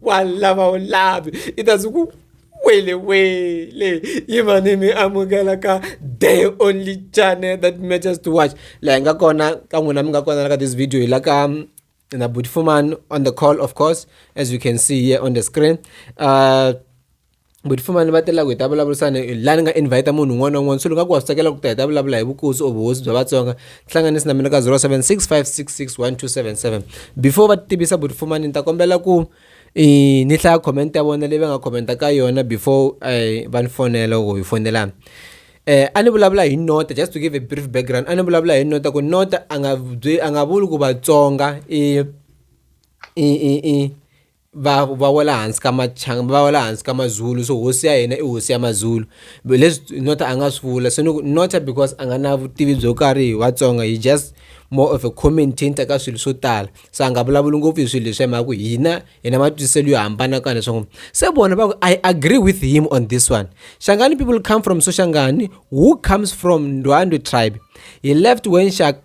walla ba labi ita zuku wele wele yiva ni mi amukela ka day only channel that matters to watch laha hi nga kona ka n'wina mi nga kona la ka this video hi la ka mm, na butfuman on the call of course as you can see here on the screen uh, But futhi manje batela ku hi ta vulavurisana la ni nga invite munhu un'wana na un'wana so ni nga ku wa swi tsakela ku ta hi ta vulavula hi vukosi or vuhosi bya vatsonga hlanganisi na mina ka 0765661277 before va tivisa buti fumani ni ta kombela ku i ni hlaya comment ya vona leyi va nga commenta ka yona before eh, va ni fonela or hi fonelana eh a ni vulavula hi nota just to give a brief background a ni vulavula hi nota ku nota a nga a nga vuli ku vatsonga i i i va va wela hansi ka machanga va wela hansi ka mazulu so hosi ya hina i hosi ya mazulu leswi nota a nga swi vula se ni ku nota because a nga na vutivi byo karhi hi vatsonga hi just more of a commentator ka swilo swo tala so a nga vulavuli ngopfu hi swilo leswi hi mhaka ku hina hi na matwisiselo yo hambana ka leswaku se vona va ku i agree with him on this one shangani people come from soshangani who comes from ndwandwe tribe he left when shak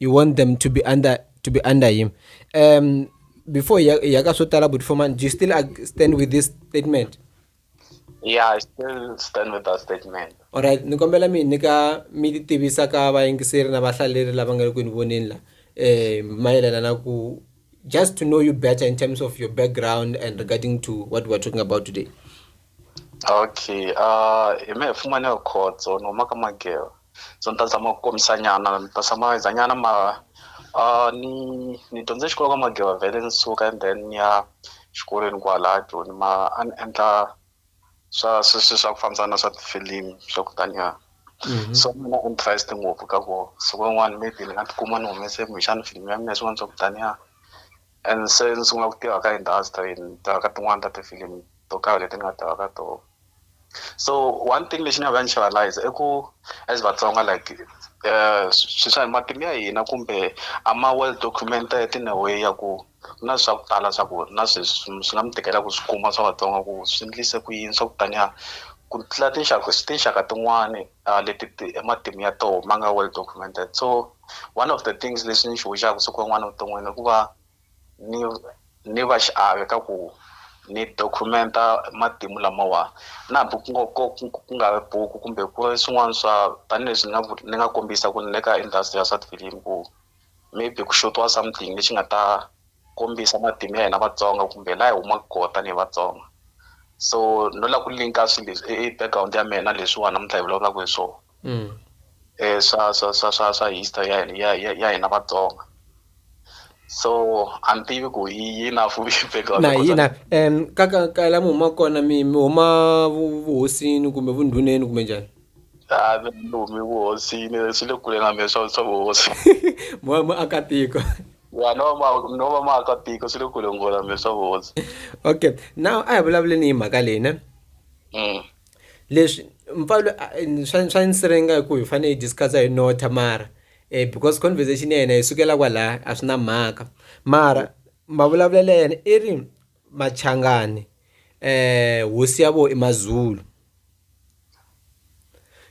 you want them to be under to be under him um before yakasotala but for man do you still stand with this statement yeah i still stand with that statement all right ni kombela mi nyika mi ti tivisa ka vayingiseri na vahlaleri lava nga ri ku ni voneni la eh mayelana na ku just to know you better in terms of your background and regarding to what we're talking about today okay uh hi me hi fumane khotso no maka magero so ni ta zama ku kombisa nyana ni ta tshama ni za nyana mara uh, ni ni dyondze xikolo ka mageva vhele ni suka and then ni ya xikolweni kwala joni mara a ni endla swa sweswi swa ku fambisana na swa tifilimi swa ku taniya mhm. so mina interest ngopfu ka ku siku rin'wana maybe ni nga tikuma ni humese kumbexana filimi ya mina swin'wana swa ku taniya And se ni sungula ku tirha ka industry ni tirha ka tin'wani ta tifilimi to karhi leti ni nga tirha ka tona so one thing lexi ni nga ka ni xi realize i ku as vatsonga like um swi swa matimu ya hina kumbe a ma well documented in a way ya ku ku na swa ku tala swa ku na sweswi swi nga mi tikela ku swi kuma swa vatsonga ku swi endlise ku yini swa ku taniya ku tlula tinxaka tinxaka tin'wani leti ti matimu ya toho ma nga well documented so. one of the things leswi ni xi hoxaka siku rin'wana evuton'wini i ku va ni ni va xiave ka ku ni document-a matimu lamawa na hambi ku ngo ko ku nga ri buku kumbe ku ri swin'wana swa tanihileswi ni nga ni nga kombisa ku ni le ka industry ya swa tifilimi ku maybe ku xotiwa something lexi nga ta kombisa matimu ya hina Vatsonga kumbe laha hi humaka koho tanihi Vatsonga so no la ku link-a swi leswi i background ya mehe na leswiwa namuntlha hi vulavulaku hi swona. mm. eh, swa swa swa swa swa history ya hina ya ya, ya hina Vatsonga so a ni tivi ku yi yi na fu background na yi na um ka ka ka la mi huma kona mi mi huma vuhosini kumbe vundhuneni kumbe njhani a mi humi vuhosini swi le kule na mina swa swa vuhosi mo mo aka tiko ya no ma no va ma aka tiko swi le kule nghola mina swa vuhosi okay now a hi vulavuleni hi mhaka leyi ne mm. leswi mpfalo swa swa nsirenga hi ku hi fanele hi discuss hi notha mara eh because conversation ya hina yi sukela kwalaya a swi na mhaka mara mavulavulelo ya yena i ri machangani eh hosi ya vo i mazulu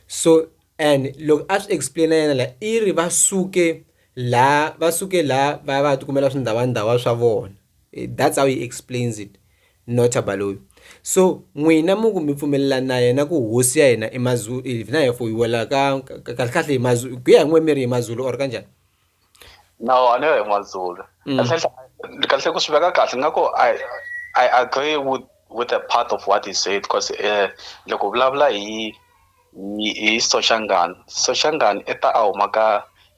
so and loko a swi explain yena la i ri va suke la va suke la va va tikumela swindhavandawa swa vona that's how he explains it Notah Baloyi so n'wina mi ku mi pfumelelana na yena ku hosi ya hina i Mazulu if na hi fuyiwela ka kahle kahle hi Mazulu ku ya hi n'we mi ri hi Mazulu or kanjhani no a ni yo hi Mazulu mm. kahle kahle ku swi veka kahle nga ku I I agree with with a part of what he said because eh loko vulavula hi hi Soshangani Soshangani i ta a huma ka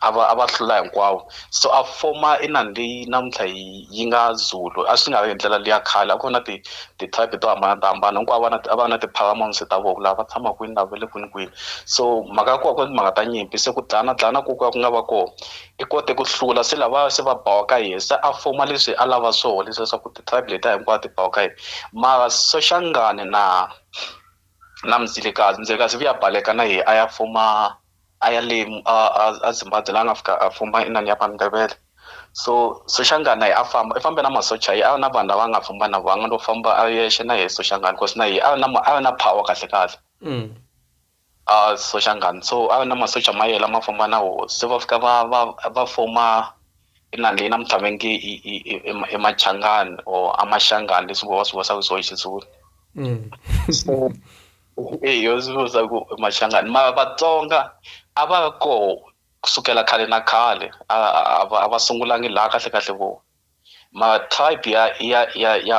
a va a va hlula hinkwavo so a foma inani leyi namuntlha hi yi nga Zulu a swi nga ri hi ndlela liya khale a ku ri na ti ti-tribe to hambana to hambana hinkwavo va na a va na ti-paramount ta vona ku lava va tshama kwini lava va le kwini kwini so mhaka ya kona a ku ri timhaka ta nyimpi se ku dlayana dlayana ko ka ku nga va kona i kote ku hlula se lavaya se va bawa ka yena se a foma leswi a lava swoho leswi leswaku ti-tribe letiya hinkwato ti bawa ka yena mara Soshangane na na Mzilikazi Mzilikazi u vuye a baleka na yena a ya foma. a ya le a Zimbabwe la a nga fika a fumba inani ya Mandebele so Soshangana a famba i fambe na masocha yi a na vanhu lava nga famba na vanga no famba a yexe na yehe Soshangana because na yehe a na a na power kahle kahle a Soshangana so a na masocha ma yela ma famba na hosi se va fika va va va foma inani leyi namuntlha va nge i Machangani or a Maxangani leswi vo va swi vurisaku hi swo hi Xizulu so. Eyo ndzi vutisa ku Machangani mara Vatsonga a va ri koho kusukela khale na khale a va a va sungulangi laha kahle kahle vo mara tribe ya ya ya ya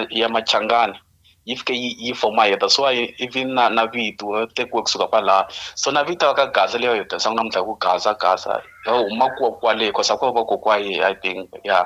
ya Machangani yi fike yi yi form-a hi that's why even na na vito ri tekiwe kusuka kwalaya so na vito ra ka Gaza leri hi tirhisaku namuntlha hi ku Gaza Gaza ri huma ko kwale cause a ku ri vakokwani I think ya.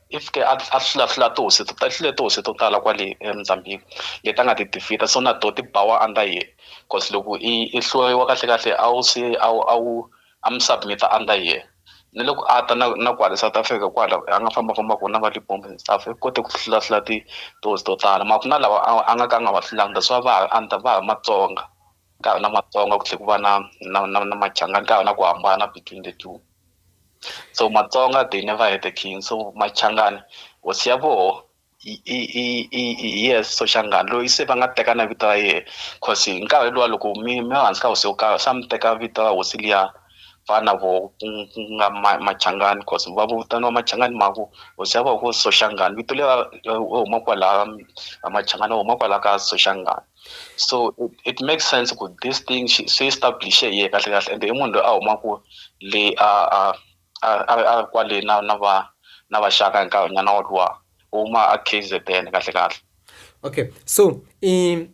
I fike a a hlula hlula tihosi to i hlule tihosi to tala kwale eMozambique leti a nga ti defeat-a so na to ti bawa under yehe coz loko i i hluriwa kahle kahle a wu se a wu a wu a mi submit-a under yehe ni loko a ta na na kwale South Africa kwala a nga famba famba ko na va Libombo and stuff i kote ku hlula hlula ti tihosi to tala mara ku na lawa a a nga ka a nga wa hlulanga that's why va ha ri under va ha ri Matsonga ka ha ri na Matsonga ku tlhe ku va na na na na Machangani ka ha ri na ku hambana between the two. so matsonga they never had a king so machangani hosi ya voho i i i i i yes soshangani loyi se va nga teka na vito ra yehe cause hi nkarhi luwa loko mi mi va hansi ka hosi yo karhi se a mi teka vito ra hosi liya va na voho ku ku nga ma machangani cause va vitaniwa machangani hi mhaka ku hosi ya voho ku soshangani vito leri va huma kwalaya va machangani va huma kwalaya ka soshangani. so it make sense ku this thing xi se establish-e hi yehe kahle kahle ende i munhu loyi a humaku le a a a a a ri kwale na na va na vaxaka hi nkarhi nyana woluwa u huma a K_Z_N kahle kahle. Okay so i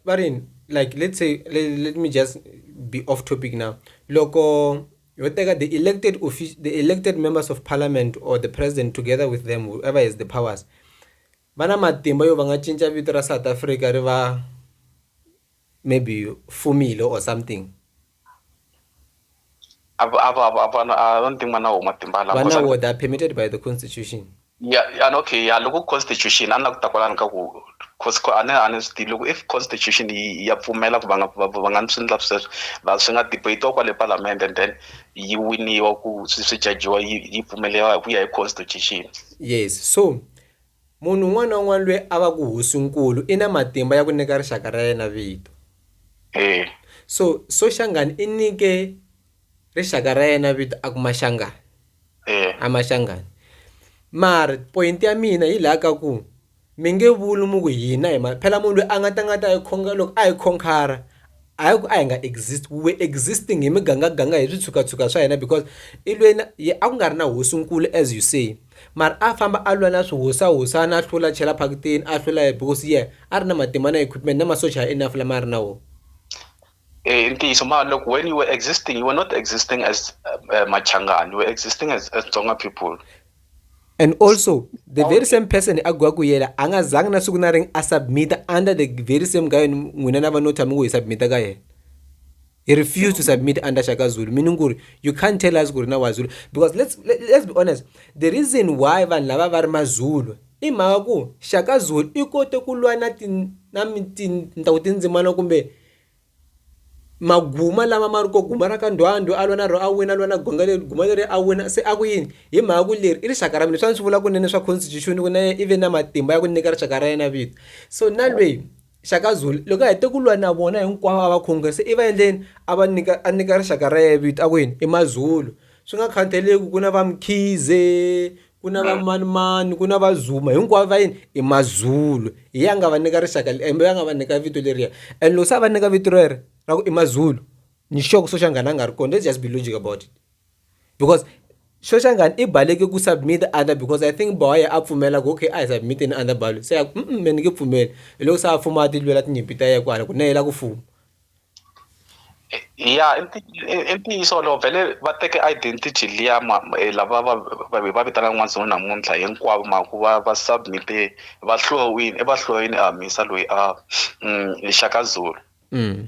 va ri yini like let's say let me just be off topic now loko ho teka the elected the elected members of parliament or the president together with them whoever has the powers va na matimba yo va nga cinca vito ra South Africa ri va maybe Fumile or something. A va a va a va na I don't think va na wo matimba lawa. Va na wo they are permitted by the constitution. Ya ya okay ya loko constitution a ni la ku ta kwalani ka ku cause a ni a ni swi tivi loko if constitution yi ya pfumela ku va nga va va nga swi endla sweswo va swi nga debate-iwa kwale palamende and then yi winiwa ku swi swi jajiwa yi yi pfumeleriwa hi ku ya hi constitution. Yes so Munhu un'wana na un'wana loyi a va ku hosi-nkulu i na matimba ya ku nyika rixaka ra yena vito. So, Soshangane i nyike rixaka ra yena vito a ku Mashangane. A Mashangane. Mara point ya mina hi laha ka ku mi nge vuli mi ku hina hi ma phela munhu loyi a nga ta nga ta hi khonga loko a hi khonkhara a hi ku a hi nga exist we were existing hi mugangaganga hi switshukatshukani swa hina because i lwela yena a ku nga ri na hosi-nkulu as you say. Mara a famba a lwa na swihosahosana a hlula a chela phakitini a hlula hi because yeah a ri na matimba na equipment na masocha ya enough lama a ri na wona eh, i ntiyiso ma loko when you were existing you were not existing as uh, machangani you were existing as, as tsonga people and also the very same person a gwa ku yela a nga zangi na siku na ring a submita under the very same guy n'wina na va no tshami ku hi submita ka yena he refused to submit under shaka zulu meaning kuri you can't tell us kuri na wazulu because let's, let, let's be honest the reason why vanhu lava va ri mazulu i mhaka ku shaka zulu i kote ku lwa na tintaku tindzimana kumbe maguma lama ma ri ko guma ra ka ndwandwe a lwa na ro a wina a lwa na gonga leri guma leri a wina se a ku yini hi mhaka ku leri i rixaka ra mina swa ni swi vula kunene swa constitution ku na i ve na matimba ya ku nyika rixaka ra yena vito so na lweyi Shaka Zulu loko a hete ku lwa na vona hinkwavo a va khongela se i va endleni a va nyika a nyika rixaka ra yena vito a ku yini i Mazulu swi nga khathaleki ku na va Mkhize ku na va manimani ku na va Zuma hinkwavo va yini i Mazulu hi yena a nga va nyika rixaka kumbe a nga va nyika vito leriya and loko se a va nyika vito rero ra ku i Mazulu ni sure ku Soshangana a nga ri kona that's just be logic about it. because Shoshangan i baleke ku submit under because i think boye a pfumela ku okay a hi submit ni under balo se ya ku mm me ni nge pfumeli hi loko se a fuma a ti lwela tinyimpi ta yena kwala ku na yela ku fuma ya i ntiyiso wolowo vhele va teke identity liya eh, lava va va vitanaka n'wanzungu namuntlha hinkwavo ma ku va va submite va hluwini i va hluwini a misa loyi a mm, xaka zulu mm.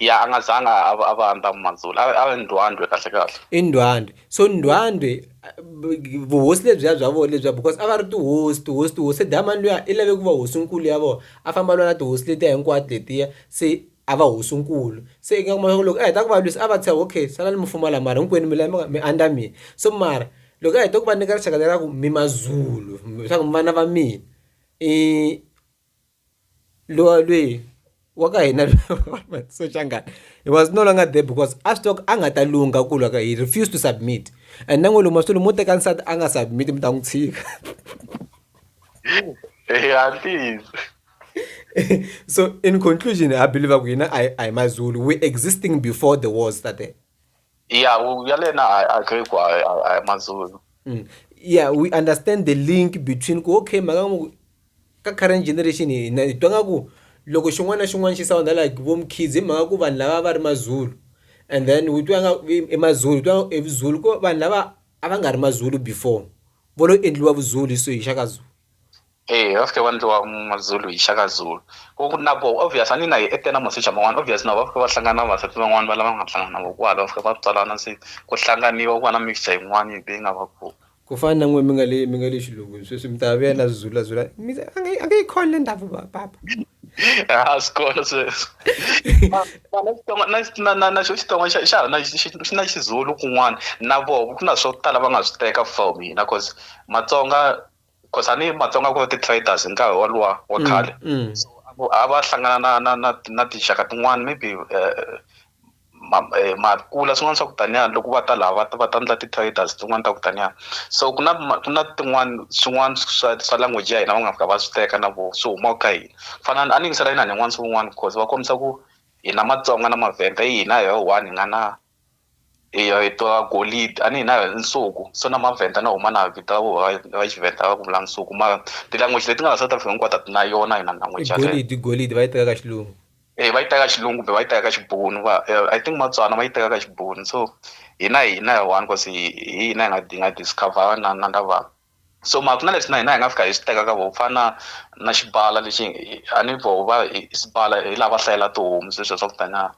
Ya a nga zanga a va a va andza Manzulu a a Ndwandwe kahle kahle. I Ndwandwe so Ndwandwe vuhosi lebyiya bya vona lebyiya because a va ri tihosi tihosi tihosi se dayimani luya i lave ku va hosinkulu ya vona a famba a lwa na tihosi letiya hinkwato letiya se a va hosinkulu se i nga kuma swa ku loko a heta ku va lwisa a va tshika okay salani mi fuma la mara hinkwenu mi la mi nga mi andza mina so mara loko a heta ku va nyika rixaka leriya ku mi Mazulu swa ku mi vana va mina i. lowa lweyi wa ka hina Soshangana he was no longer there because a swi tiva ku a nga ta lungha ku lwa ka he refused to submit and na n'wi luma swilo mo teka nsati a nga submit mi ta n'wi tshika so in conclusion ha believe ku hina a hi a hi mazulu we existing before the wars tate Yeah, u- ya lena I agree ku a a- a hi mazulu. Mm. yeah we understand the link between ku okay mhaka ya ku ka current generation hi na- hi twa nga ku loko xin'wana na xin'wana xi sounda like vo mukhids hi mhaka ku vanhu lava va ri mazulu and then u twa nga i- i mazulu u twa i vuzulu ku vanhu lava a va nga ri mazulu before vo lo endliwa vuzulu hi swihi xa ka zulu Ee va fike va ndliwa Mazulu hi Shaka Zulu ku na ko obvious a ni na hi na masocha man'wana obvious na vo va fike va hlangana na vavasati van'wani va lava nga hlangana na vo kwala va fika va tswalana se ku hlanganiwa ku va na mixture yin'wani leyi nga va ko. Ku fana na n'wina mi nga le mi nga le xilungwini sweswi mi ta vuya la Zulu la Zulu mi ta a nge a nge yi kholi le ndhavuko wa papa a swi kona sweswo na na na xo Xitsonga xa xa na xi xi na Xizulu kun'wana na voho ku na swo tala va nga swi teka from hina cause Matsonga. Because a ni Matsonga ku ri ti-traders hi nkarhi woluwa wa khale. So a ku a va hlangana na na na na tinxaka tin'wana maybe ma makula swin'wana swa ku taniya loko va ta laha va ta va ta endla ti-traders tin'wana ta ku taniya. So ku na ku na tin'wana swin'wana swa swa language ya hina va nga fika va swi teka na voho swi huma ka hina. Ku fana na a ni yingisela inani yin'wana swin'wana because va kombisa ku hina Matsonga na Mavhenda i hina hi ri one hi nga na. eya hi tiva golidi a ni hina nsuku so na mavhenda na huma na vito va xivhenda va ku vula nsuku mara ti-language leti nga la south africa hinkwato a ti na yona hina language golidi golidi va yi teka ka xilungu e va yi teka xilungu kumbe va yi teka ka xibunu va eh, i think matswana va yi teka ka xibunu so hina hina one cause hi hina hi nga hi nga discover na na lava so mara ku na leswi na hina hi nga fika hi swi teka ka voho ku fana na na xibala lexi a ni voho va hi sibala hi lava hlayela tihomu sweswo swa ku tanyana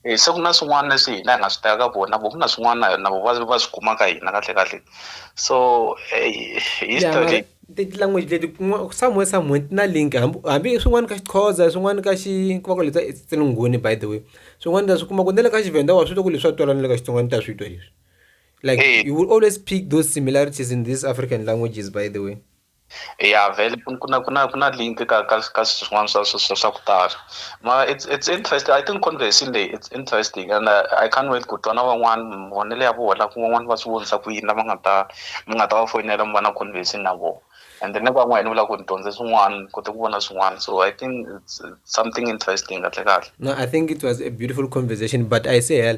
um se ku na swin'wana leswi hina hi nga swi teka ka vona vo ku na swin'wana na vo va va swi kuma ka hina kahle kahle so history ti-language leti somewhere somewhere ti na link hambi hambi swin'wana ka xixhoza swin'wana ka xi ku va ku leta etsinunghuni by the way swin'wana ta swi kuma ku na le ka xivenda wa swi twa ku leswi swa twala na le ka xitsongwana ta swi twa leswi like Eh. you will always pick those similarities in these african languages by the way ya vele ku- ku na ku na ku na link ka ka ka swin'wana swa swa- swa swa ku tala ma it's it's interesting i think conversation leyi it's interesting and uh, i can't wait ku twa na van'wana mavonelo ya vona ku van'wana va swi vonisa ku yini lava nga ta mi nga ta va foyinela mi va na conversation na vona and then van'wana ni vula ku ni dyondze swin'wana ni kote ku vona swin'wana so i think it's it's something interesting kahle kahle No, I think it was a beautiful conversation, but I say, hell,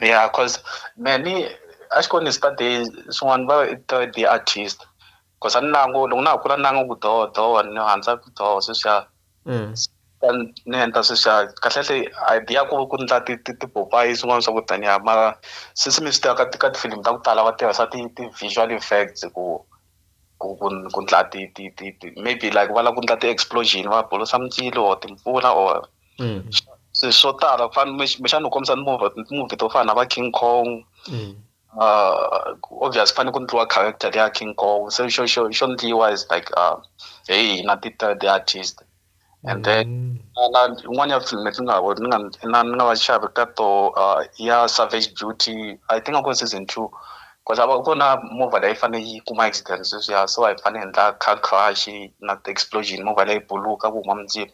yeah cause me ni a xi ko ni study swin'wana va i to the artist cause a ni nangu loko na ha kula ni nangu ku doho doho ni handza ku doho sweswiya ni endla sweswiya kahlekahle idea ku ku ndla tipopayi swin'wana swa ku taniya mara since mi swi tiva ka ka tifilimi ta ku tala va tirhisa ti-visual effects ku ku ku ku ndla ti ti ti ti maybe like va lava ku ndla ti-explosion va bulusa mindzilo or timpfula or mm. se swo tala ku fana kumbexana u kombisa timovhi to fana na va king kong mm. uh, obvious ku fanele ku ndliwa character leya king kong se xo xo xo ndliwa is like uh, hey na ti-third artist and then mm. na yin'wana ya film leti nga ni nga na ni nga va xavi ka to uh, ya savage duty i think a ku season two because a ku na movha leyi fanele yi kuma accident sweswiya so a yi fanele endla car crash na ti-explosion movha leyi buluka ku huma mindzilo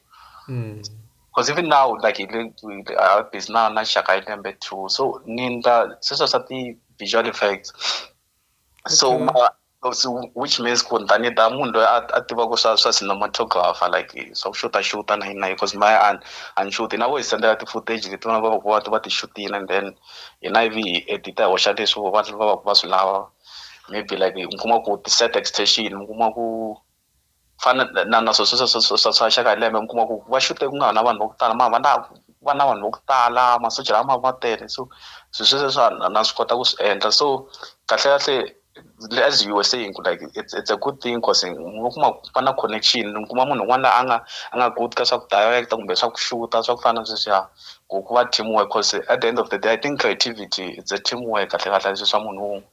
mm. because even now like hi le busy na na xaka hi lembe two so ni ndla sweswo swa ti-visual effects so okay. which means ku ni ta ni ta munhu loyi a tivaka swa swa cinematographer like swa ku xuta xuta na yini na yini because maye a a ni xuti na vo hi sendela ti-footage leti vana va va va va ti xutile and then hina ivi hi edita hi hoxa leswi va va va va swi lava maybe like mi kuma ku ti-set extension mi kuma ku fana na na swa swa swa swa swa xa ka lembe mi kuma ku va xute ku nga ha na vanhu va ku tala mara va na va na vanhu va ku tala masocha lama ma tele so swi sweswo swa na na swi kota ku swi endla so kahlekahle le as U_S_A hi ku like it's it's a good thing coz hi ngo kuma ku va na connection mi kuma munhu un'wana la a nga a nga good ka swa ku direct-a kumbe swa ku xuta swa ku fana na sweswiya ku ku va team work coz at the end of the day I think creativity it's a team work kahlekahle a swi swa munhu wun'we.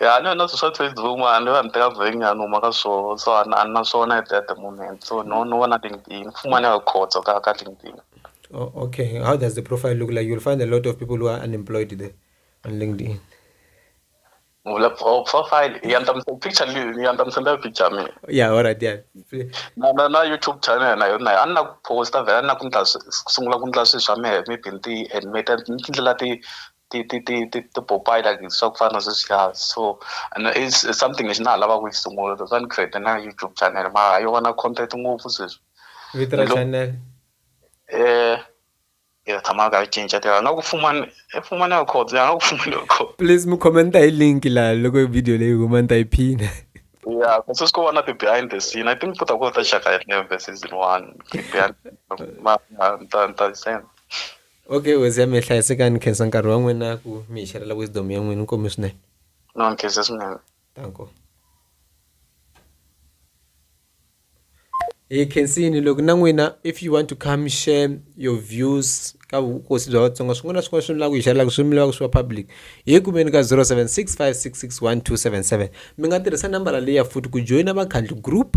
Ya a ni na swilo swa Facebook mara ni va ni teka vhiki nyana ni huma ka swona so a ni na swona at the moment so no no vona LinkedIn mfumo a ni nga khotsa ka ka LinkedIn. Oh, okay. How does the profile look like? You'll find a lot of people who are unemployed there on LinkedIn. Vula oh, profile ya nta picture ni ya nta msenda picture mi. Yeah, all right, yeah. Na na na YouTube channel na yona a na posta vela na ku ndla sungula ku ndla swi swa me mi binti and me ta ndlela ti ti ti ti ti tipopayi like swa ku fana na sweswiya so and i something lexi na ha lava ku xi sungula that's why ni create-e na YouTube channel mara yo va na content ngopfu sweswi vito ra channel ya tshama ni karhi ni cinca tiva nga ku fumani i fumani ya khotso ya nga ku fumani ya khotso please mu comment hi link la loko video leyi huma ni ta yi phina ya kasi swi ko vona ti behind the scene i think ku ta ku ta xaka hi neve season one behind ma ta ta send okay wezi ya mi hlayisekani khensa nkarhi wa n'wina ku mi hi xerela wisdom ya n'wina nkomi swinene no nkhensa swinene tanko hi khensini loko na n'wina if you want to come share your views ka vukosi bya vatsonga swin'wana na swin'wana swi mi lava ku hi xerelaka swi mi lava ku swi va public hi kumeni ka 0765661277 mi nga tirhisa nambara leyi ya futhi ku joyina vakhandli group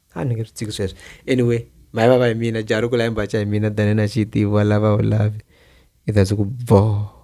a ni nge swi tshiki sweswo anyway mayi vava hi mina jaha ri kula hi mbaca hi mina than na xi tivi wa lava a wu lavi i ta ku boh.